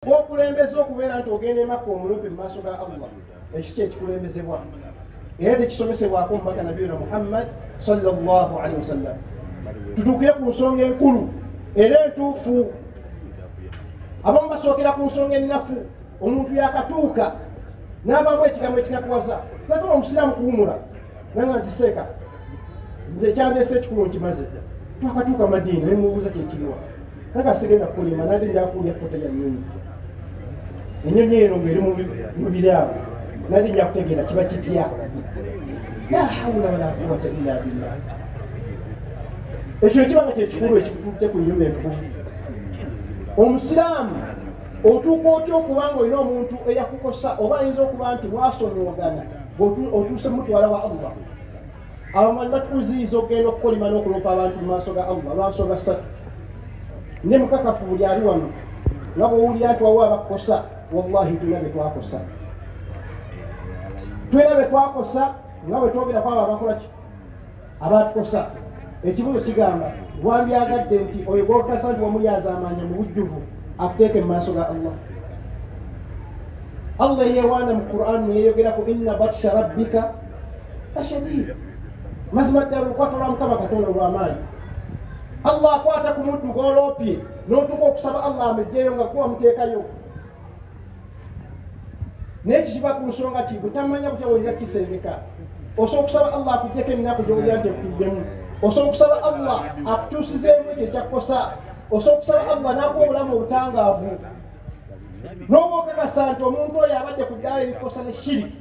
okulembeza okubeera nti ogenda emakka omulumpi mu maaso ga allah ekyo kyekikulembezebwa era tekisomesebwako omubaka nabi yona muhammad salllahalihi wasallam tutuukire ku nsonga enkulu era entuufu abamu basookera ku nsonga ennafu omuntu yakatuuka n'abaamu ekigambo ekinakuwaza natuma omusiraamu kuwumula nanga ntiseeka nze ekyandeesa ekikulu nkimaze twakatuuka madiini nemubuuza kyekiriwa kaka sigenda kulima nade njakulya fota ya nyonyi enyonyi eno ngeri mubiri abo nade njakutegeera kiba kitya la hawula wala quwata illa billah ekyo ekiba nga kyekikulu ekikututte ku nyumba entukufu omusiraamu otuuka otya okuba nga olina omuntu eyakukosa oba ayinza okuba nti mwasonyiwagana otuuse mutwala wa allah abamanyi batukuziyiza okugenda okukolima n'okuloopa abantu mu maaso ga allah lwansonga ssatu ne mukakafu buli ali wano nga bwowulira nti wawo abakukosa wallahi tulina be twakosa tulina be twakosa nga bwe twogera kwabo abakolaki abatukosa ekibuzo kigamba wandyagadde nti oyo gwokasa nti wamulyazamanya mu bujjuvu akuteeke mu maaso ga allah allah yewaana mu quran neyeyogerako inna batsha rabbika tashadiidi mazima ddala olukwata lwa mukama katonda olwamaanyi allah akwata ku muddu gwoloopye n'otuuka okusaba allah amejjeeyo nga kuba muteekayo naye kikiva ku nsonga ki butamanya butya bwoyinza kukisengeka osobola okusaba allah akujjeko eminaku gyowulira nti ekutuddemu osobola okusaba allah akukyusizeemu ekyo ekyakukosa osobola okusaba allah n'akuwa obulamu obutangaavu n'oba okakasa nti omuntu oyo abadde ku ddaala erikosa ne shiriki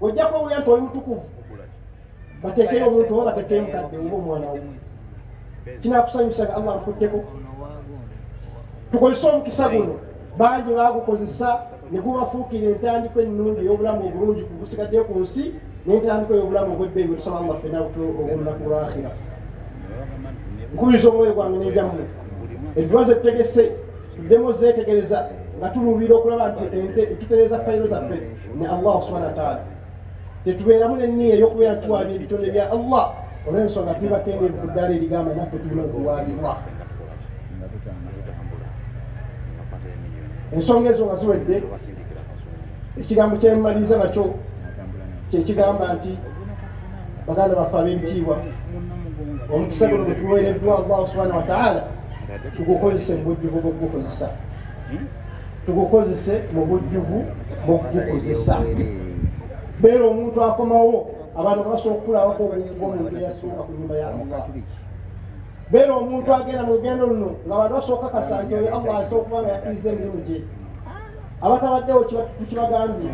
ojja kuba owulira nti oli mutukuvu bateekeyo omuntu oba bateekeyo mukadde oba omwana wo kinakusanyusa nga allah nkutteko tukozese omukisa guno bangi bagukozesa ne gubafuukira entandiko ennungi ey'obulamu obulungi kugusigaddeyo ku nsi n'entandiko ey'obulamu obwebbeeyi wetusaba allah fena olunaku lwakhira nkubiriza omwoyo gwange n'ebyammwe edduwa ze tutegese tuddemu zeetegereza nga tuluubira okulaba nti ente tutereeza fayiro zaffe ne allah subhana wataala tetubeeramu nenniya eyokubeera tuwaabya ebitonde bya allah olwensonga tuli bakendeevu ku ddaala erigamba naffe tulina okuwaabirwa ensonga ezo nga ziwedde ekigambo kyemmaliriza nakyo kyekigamba nti baganda baffe ab'ebitiibwa omukisa guno gwetuweereddwa allah subhana wataala tugukozese mu bujjuvu bwokugukozesa tugukozese mu bujjuvu mu kugukozesa beera omuntu akomawo abantu basobola okukulabako obungi bwomuntu eyasooka ku nyumba ya allah beera omuntu agenda mu lugendo luno nga abantu basooka kasa nti oyo allah aza okuba nga yakiriza emirimu gye abatabaddewo tukibagambye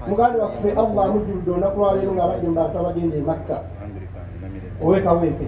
muganda waffe allah amujjuludde olunaku lwaleero ngaabadde mu bantu abagenda emakka owekawo empe